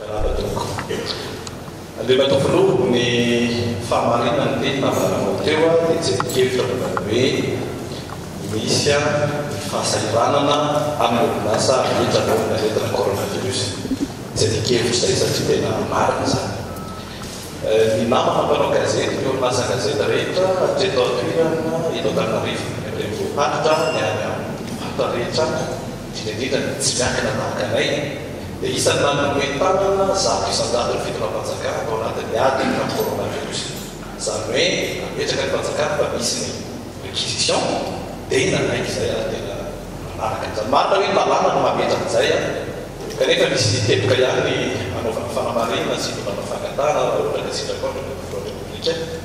Radadogo. Andriana Toa Filoha, ny fahamarinan'ny teny nambaranao teo dia jerin-kevitra momba ny hoe misy ny fahasahiranana amin'ny orinasa rehetra noho ny aretina coronavirus. Jerin-kevitra izay satria tena marina izany. Ny namana mpanao gazety, ny orinasa gazety rehetra hatreto an-toerana eto Antananarivo, ny renivohim-paritra, ny any amin'ny faritra rehetra, indrindra indrindra ny tsy miankina tahaka anay, dia isan'ny nanome tanana zato isan-jato ny fitondram-panjakana tao anatin'ny ady tamin'ny coronavirus. Izany hoe nametraka ny fanjakana fa nisy ny réquisition dia nanaiky izay ary tena nanaraka. Izany marina hoe ny lalàna no mametra an'izay an! Kanefa misy teboka ihany ny hanaovana fanamarinana sy hitondrana fangatahana raha ohatra ka sitrapon'ny President de la République.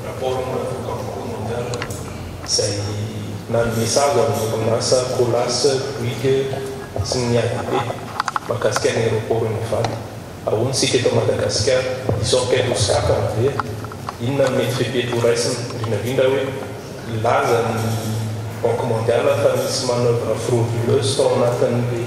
Rapport momba ny voka-boky Modern izay nanome sazy ho an'ny orinasa Colas, Bouygues sy ny ADP mahakasika ny aeroporon'i Ivato. Ahoana isika eto Madagasikara? Hisy enquête ho sokafana ve? Inona no mety fepetra ho raisina? Indrindra indrindra hoe nilaza ny Banque Mondiale fa nisy manoeuvre frauduleuse tao anatin'ilay.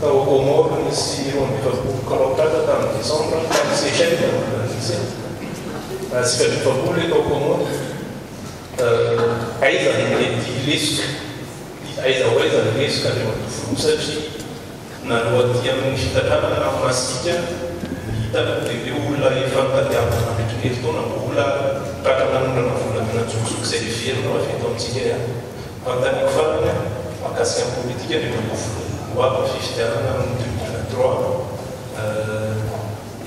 Tao Comores, nisy roa amby efapolo clan tratra tamin'ny Desambra tamin'ny Seychelles tamin'ny volana Josay. Atsika roa daholo ilay tao Comores. Aiza no nety lesoka? Dia aiza ho aiza ny lesoka any Ambohijombo satria naloha aty amin'ny fitantanana na masika ny hitako dia ireo olona efa nitadiavina nandritra ny herintaona mbola tratra nanondrana volamena an-tsokosoko izay heverina ho avy eto amintsika ihany. Fantaniako farany mahakasika ny politika ny eto am-bovona. Ho avy ny fifidianana amin'ny deux mille vingt trois,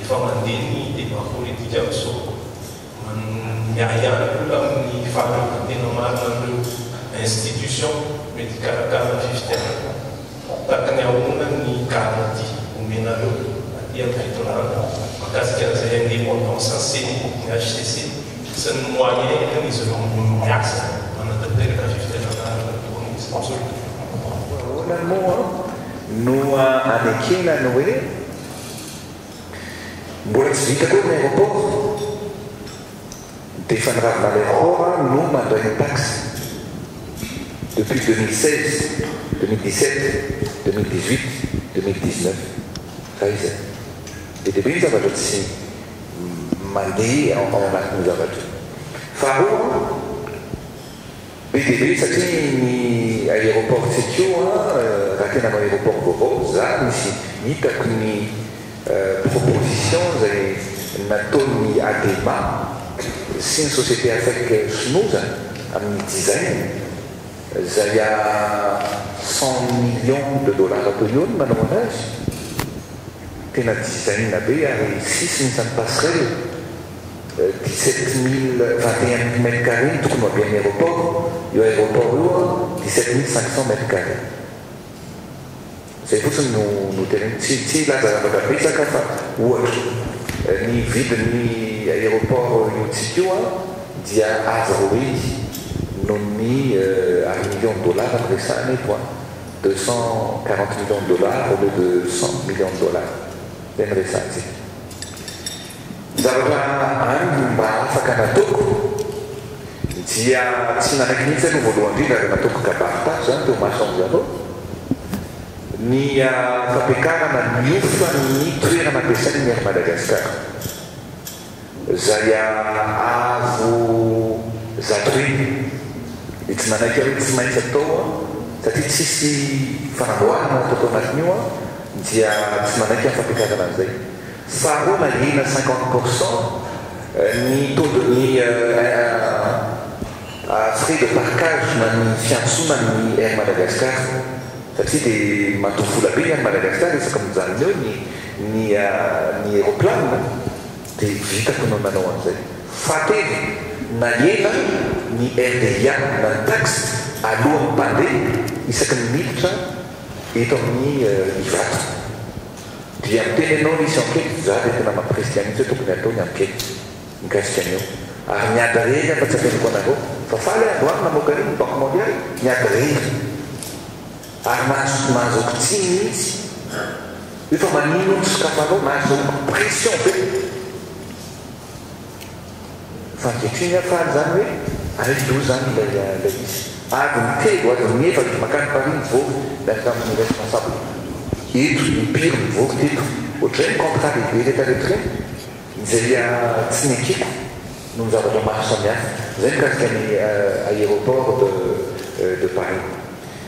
efa mandeha ny débat politika amin'izao. Miahiahy ny olona amin'ny fahaleovantena marina an'ireo institutions mety hikarakara ny fifidianana. Ho takany ahoana ny garantie omenareo aty amin'ny fitondràna mahakasika an'izay indépendance an'ny ceni, ny hcc sy ny moyen entin'izy ireo miasa manatanteraka fifidianana tokony ho isan-tsoratra? Ahoana moa no anekena ny hoe mbola tsy vita koa ny aéroport? Dia efa ny Ravinalehora no mandray ny taxe depuis deux mille seize, deux mille dix sept, deux mille dix huit, deux mille dix neuf. Fa iza? Be dia be ny zavatra tsy mandeha ao anatin'io zavatra io. Faharoa. Be dia be satria ny aéroport Tsekio raha tena hanao aéroport vaovao za misy hitako ny proposition izay nataon'ny Adema sy ny société Afec Sonoza amin'ny design izay à cent millions de dollars toy io ny nanaovana azy tena design be ary sisiny izany passerelle dix sept mille vingt et un mètres carrés tokony ho avy any aeroport, io aeroport io an dix sept mille cinq cents mètres carrés. Zay fotsiny no no teneniko, tsy tsy hilaza zavatra betsaka aho fa ohatra, ny vidin'ny aeroport iotsika io an dia avo rohiy noho ny ary millions dollars no resahana eto an, deux cent quarante millions dollars au lieu de cent millions dollars, zay no resahantsika. Zavatra any no mba afaka nataoko dia tsy nanaiky mihitsy aloha voalohany indrindra ary nataoko kabary tato izany teo maso an'i Zareo ny fampiakarana miofa ny toerana ampiasain'ny Air Madagascar izay avo zato heny dia tsy nanaiky aho hoe tsy maintsy atao satria tsisy fanamboarana natao tao anatin'io dia tsy manaiky aho ny fampiakarana an'izay. Sarro na hena cinquante pour cent ny taux de ny frais de parkage na ny fiantsonan'ny Air Madagascar satria dia madoa vola be ny Air Madagascar isaky mijanona eo ny ny ny aeroplane dia vitako no nanao an'izay fahatelo na hena ny RDIA na ny taxe alohan'ny mpandeha isaky ny miditra eto amin'ny Ivato. Dia miteny anao ny izy ankety fa za dia tena maha kristian mihitsy hoe tokony atao ny ankety mikasika an'io ary ny ady rehetra fa tsy averiko anareo fa faly aho androany namoaka an'iny ny banque mondiale ny ady rehetra ary nahazo nahazoako tsiny mihitsy io fa maninona no sokafanao nahazoako pression be Fanketriny aho faly zany hoe aiza io zany ilay izy. Adiny telo, adiny efatra, makany Paris mivoaka miaraka amin'ny responsable eto, impiry mivoaka teto. Ohatr'ireny contrat lehibe retraretra ireny, izay tsy nekeko noho ny zavatra maro samihafa. Izay mikasika ny aéroport de Paris.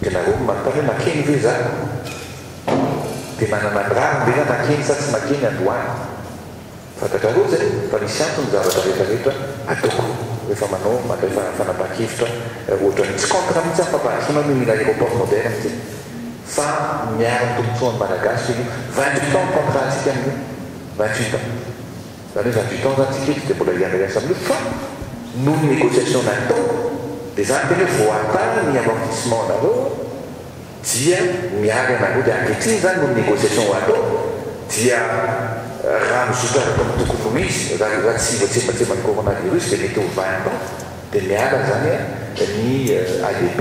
Dia nareo no manontany hoe makeny ve za? Dia manana ny rariny ve za makeny sa tsy makeny androany? Fantatrareo izay fa misy antony ny zavatra rehetra rehetra ataoko rehefa manao mandray fanapahan-kevitra ohatran'io. Tsy contre mihitsy aho ny fampandrosoana ny mila aéroport moderne ty fa miaro ny tombotsoan'ny Malagasy ve io? Vingt-huit ans ny contrat-ntsika amin'io, vingt-huit ans. Zany hoe zany du-temps zany tsika eto dia mbola hiandry asa mihitsy fa noho ny négociation natao dia zany tena hoe voatany ny amortissement nareo dia mialy anareo dia ankehitriny zany noho ny négociation ho atao dia raha mizotra araka ny tokony ho izy raha raha tsy voatsembatsemban'ny coronavirus dia mety ho vingt ans dia miala zany ny ADP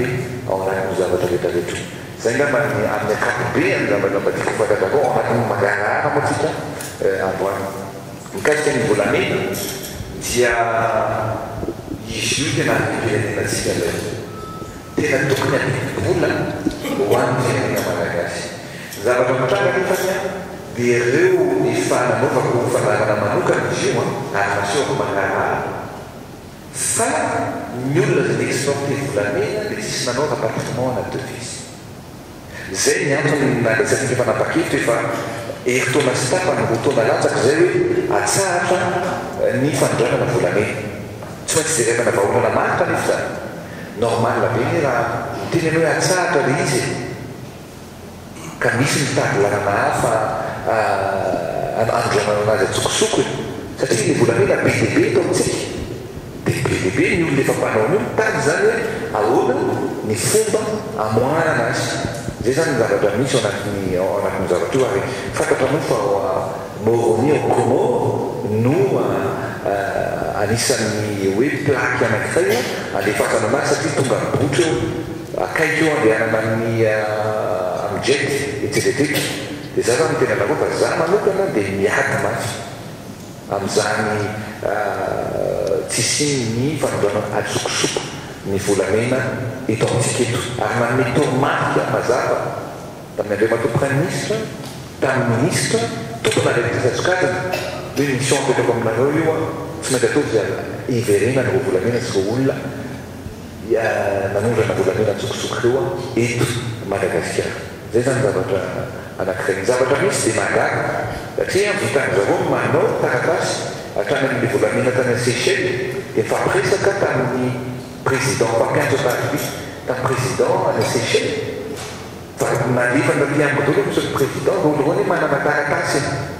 ao anatin'io zavatra rehetra rehetra io. Izay angamba ny amin'ny ankapobeany zavatra mba tiako hofantatrako ao anatin'ny mangarahara moa tsika androany. Mikasika ny volamena dia izy io tena andiam-pirenenantsika indray. Tena tokony adidim-bola ho an'ny firenena malagasy. Ny zavatra mitranga nefany dia ireo efa nanaovako fanarahana manokana izy io ary nasehoko mangarahara. Fa ny olona izay exempter volamena dia tsisy nanao rapatriement na devise. Izay ny antony nandraisantsika mpanapa-kevitra efa herintaona sy tapany, roa taona latsaka izay hoe atsahatra ny fanondranana volamena. Tsy maintsy jerenana vahaolana maro kanefa izany. Normal be ny raha miteny ianao hoe atsahatra ilay izy e! ka nisy nitady lalana hafa hanondranana azy an-tsokosokony, satria ilay volamena be dia be eto amintsika, dia be dia be ny olona efa mpanao an'io mitady izany hoe ahoana ny fomba hamoahana azy. Izay izany ny zavatra misy ao anatin'ny ao anatin'io zavatra io, ary fantatra moa fa ao Moroni, ao Comores, no anisan'ny hoe plaque anankiray handefasana an'azy satria tonga mibotra eo. Akaiky eo andehanana amin'ny Amjad etsy Vedek dia izaho zany no tena lalao fa izaho manokana dia miady mafy amin'izany tsy hisian'ny fanondroana adisokosoko ny volamena eto amintsika eto ary nanome toromarika mazava tamin'ny Andriamatoa Praiminisitra tamin'ny Minisitra tompon'andraikitra sy asokajina hoe mission apetrako aminareo io aho tsy maintsy ataovy hiverenany vao volamena sy vao olona dia nanondrana volamena an-tsokosoko teo aho eto Madagasikara. Izay izany zavatra anankiray. Ny zavatra misy dia mahagaga satria an, vitan'i zareo ny manao ny taratasy hatrany amin'ny volamena tany a Seychelles dia nifampiresaka tamin'ny président mpampiantso ataribia tamin'ny président any a Seychelles fa nalefan'ny ry mpiambin-doha aloha ny solon'ny président voalohany hoe manana taratasy ianao.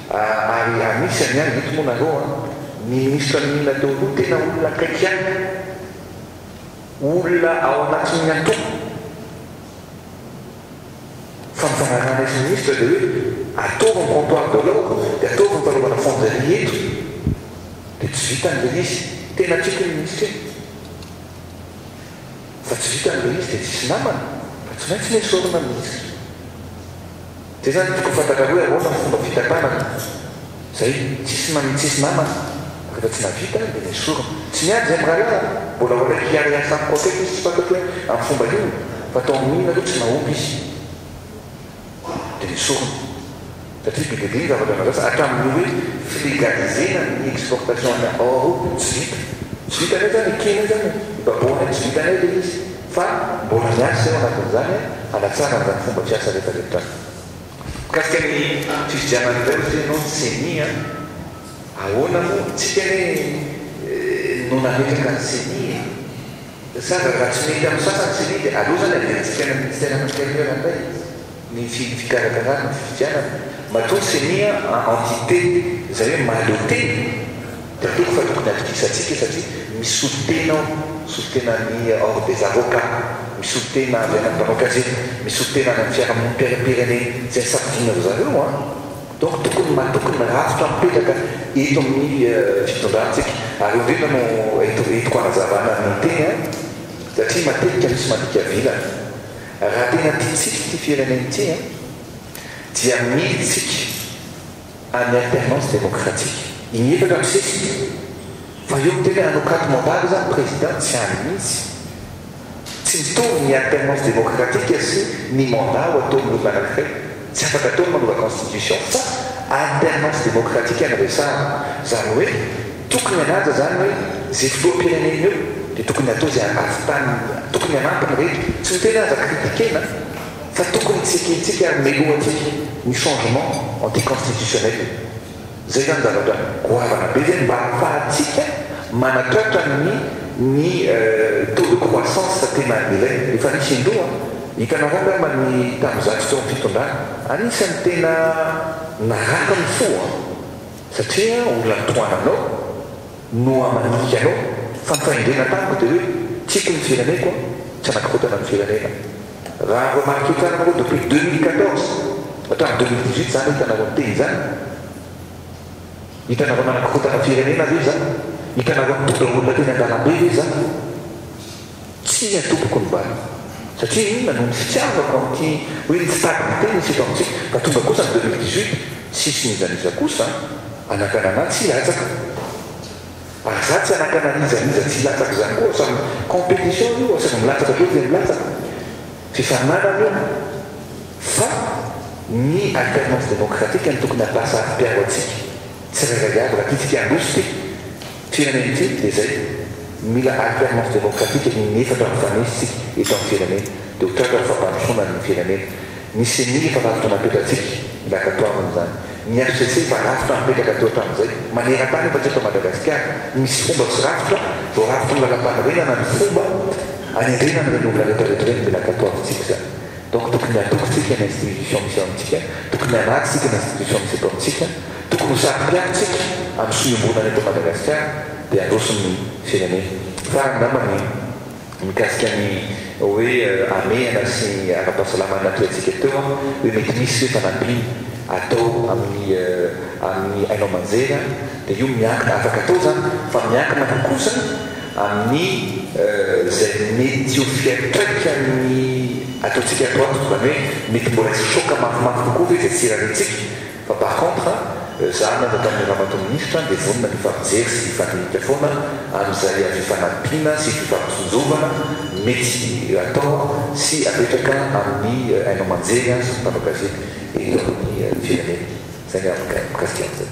Ary anisany an, eto moa nareo an, ny ministra niniana teo aloha tena olona akaiky ahy, olona ao anatin'ny antoko, fa ny fanarahanay sy ny ministra dia hoe ataovy ny comptoir de l'or dia ataovy ny fanaovana fonderie eto, dia tsy vitany ilay izy, tena tiako iny ministra iny, fa tsy vitany ilay izy dia tsisy namana, fa tsy maintsy nesorina ny ministra. Zay zany tokony ho fantatrareo ianao fa ny fomba fitantanana zay tsisy manin tsisy namana refa tsy navita de nesorina tsy miady zay mirahalahy a mbola ho alaiky hiara hiasa amiko akaiky izy tsy fantatro hoe am fomba inona fa tao amin inona aloha tsy nahomby izy de nesorina satria be dia be ny zavatra nazasa hatramin ny hoe flegalizena ny exportation any Europe tsy vita tsy vitanay zany ekena zany e baboanay tsy vitanay le izy Fa mbola miasa eo anatin'izany hanatsarana izany fomba fiasa rehetra rehetra izany. Mikasika ny fifidianana indray ohatry ny ianao ceni an, ahoana moa isika re no nametraka ny ceni e? Sa raha tsy mety amin'ny sasany ceni dia aleo izany averintsika any amin'ny Ministère intérieur indray izy. ny tsy fikarakarana ny fifidianana, matoa ny ceni a entite izay hoe mahaleo tena dia aleoko fa tokony atokisantsika io satria misolo tena ao, misolo tena an'i ordre des avocats, misolo tena avy any amin'ny mpanao gazety, misolo tena any amin'ny fiarahamonim-piainam-pirenena izay safidiana ry zareo an! donc tokony matoky ny rafitra mipetraka eto amin'ny fitondrantsika, ary eo indrindra no entiko hanazavana ny teny an! satria matetika misy mandika vilana. Raha tena tiantsika ity firenena ity an, dia mila isika any alternance démocratique in efatra amby sesiny fa eo miteny hanokatw mandat izany président tsy any mihitsy. Tsy mitovy ny alternance démocratique sy ny mandat ho ataon'olona anankiray. Tsy afaka atao ny manova constitution fa alternance démocratique no resahana. Zany hoe tokony hanaja zany hoe ze fotoam-pirenen'ny eo de tokony atao ze ahavitany tokony hanampy ny rehetra. Tsy ny tena aza critiquena fa tokony tsy ekentsika ary melohantsika ny changement anti-constitutionnel. Izay izany zavatra goavana be izay mba ahafahantsika manatratra ny ny taux de croissance tena ilaina. Efa nisy indroa an! Hitanareo angamba ny tamin'ny zato taon'ny fitondrana. Anisan'ny tena narary ny fo an! Satria olona mitohana anao no manika anao. Fa ny fahendrena tamiko dia hoe, tiako ny fireneko an! Tsy hanakorontana ny firenena. Raha vao matokia tsara moa depuis deux mille quatorze hatramin'ny deux mille dix huit zany hitanareo miteny izany? Hitanareo manakorontana firenena ve za? Hitanareo mitondra olona teny an-dalambe ve za? Tsia tompoko ny bala. Satria inona? Noho ny fitiavako amin'ity hoe ny tsy tady miteny izy eto amintsika. Ka tonga kosa ny deux mille dix huit tsisy n'iza n'iza kosa anakana anah tsy hilatsaka. Fa za tsy hanakan'arizariza tsy hilatsaka zany koa sa competition io asaiko milatsaka be dia milatsaka. Fifaninanana io. Fa ny alternance démocratique no tokony hataha saro piaro atsika tsirairay avy raha tiatsika handroso ty firenena ity dia zay. Mila alternance démocratique ny inefatra mifanesy tsika eto am firenena dia ho tratra ny fampandrosoana ny firenena. Ny ceni efa rafitra napetratsika, mila katoroana izany. Ny hcc efa rafitra mipetraka teo hatramin'izay. Maneran-tany efa tsy eto Madagasikara, misy fomba sy rafitra, voarafitry ny lalam-panorenana ny fomba hanendrena an'ireny olona retraretra ireny, mila katoavintsika izany. Donc tokony hatoky tsika ny institution misy eo amintsika, tokony hanaja tsika ny institution misy eto amintsika, tokony ho saro-piaro tsika amin'ny sohiombonana eto Madagasikara dia handroso ny firenena. Farany angamba ny. Mikasika ny hoe hamehana sy ny ara-pahasalamana tohantsika teo an, hoe mety misy ve fanampiana atao amin'ny amin'ny haino aman-jery an, dia io miankina, afaka atao izany, fa miankina koa kosa amin'ny izay mety ho fiantraikan'ny ataontsika ato ato, izany hoe mety mbola hisy choc mafimafy kokoa ve izay tsy irariantsika? Fa par contre, za nanompa ny ramatoa minisitra dia vonona ny hifampijery sy hifandinika foana amin'izay fifanampiana sy fifampitsinjovana mety atao sy apetraka amin'ny haino aman-jery sy ny mpanao gazety eto amin'ny firenena. Izay ny hevitro mikasika an'izay.